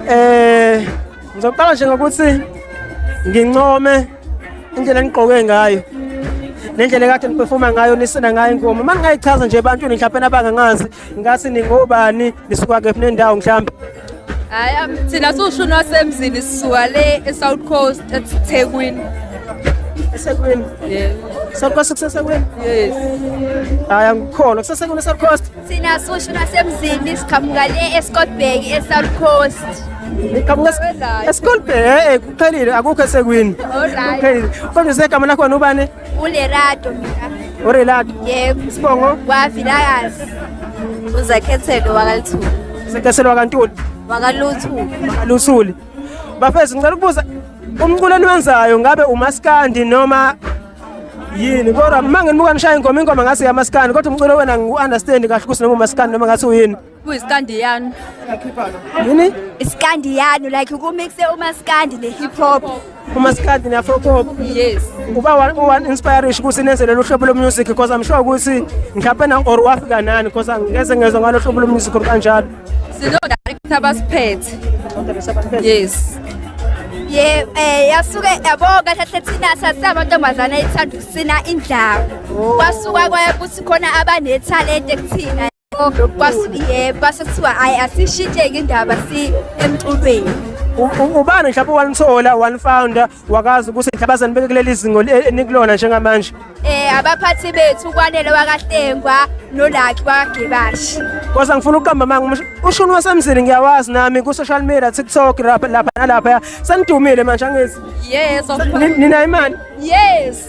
Eh ngizoqala nje ngokuthi ngincome indlela enigqoke ngayo nendlela ekade niperforma ngayo nisina ngayo ingoma uma ningayichaza nje ebantwini mhlawumpe nabangangazi ngathi ningobani nisuka kephi nendawo mhlawumbe hayi thina siwushuni wasemzini sisuka le e-south coast ethekwini esekwini yes south coast kusesekwini yes hayi angikholwa kusesekwini e-south coast thina siwushuni wasemzini siqhamuka le escotbag e-south coast Eskolbhe eh kuphelile akukho esekwini. Alright. Kuphelile. Kodwa segama lakho nobani? Ulerato mina. Urelato? Yebo. Isibongo? Wavilakazi. Uzakhethelo wakaLithuli. Uzakhethelo wakaNtuli? Wakaluthuli. Wakaluthuli. Bafethu ngicela ukubuza umculo eniwenzayo ngabe umaskandi noma yini kodwa uma nginibuka nishaya ingoma ingoma ngase yamaskandi kodwa umculo wena ngiwu-understand kahle ukuthi noma umaskandi noma ngathi uyini kuyisikandiyanu yini isikandiyanu like ukumixe umasikandi ne-hip hop umasikandi ne-afro pop yes uba wa-inspirish ukuthi nenze lolu hlobo lomusic because i'm sure ukuthi mhlawumpe na or wafika nani because angeze ngezwa ngalo hlobo lomusic kanjalo sino-director abasiphethe yes ye eh yasuke yabo kahle hle thina sasabantombazana ethanda ukusina indlawo kwasuka kwaye kuthi khona abanethalente kuthina kwasuye base kuthiwa hayi asishintsheke indaba si emculweni ubani mhlawumbe wanithola wanifounder wakazi ukuthi inhlabazane beke kuleli zingo enikulona njengamanje eh abaphathi bethu kwanele wakahlengwa nolakhi wakagebashi kwasa ngifuna ukuqamba manga ushuni wasemzini ngiyawazi nami ku social media TikTok lapha lapha nalapha sanidumile manje angezi yes of course nina imali yes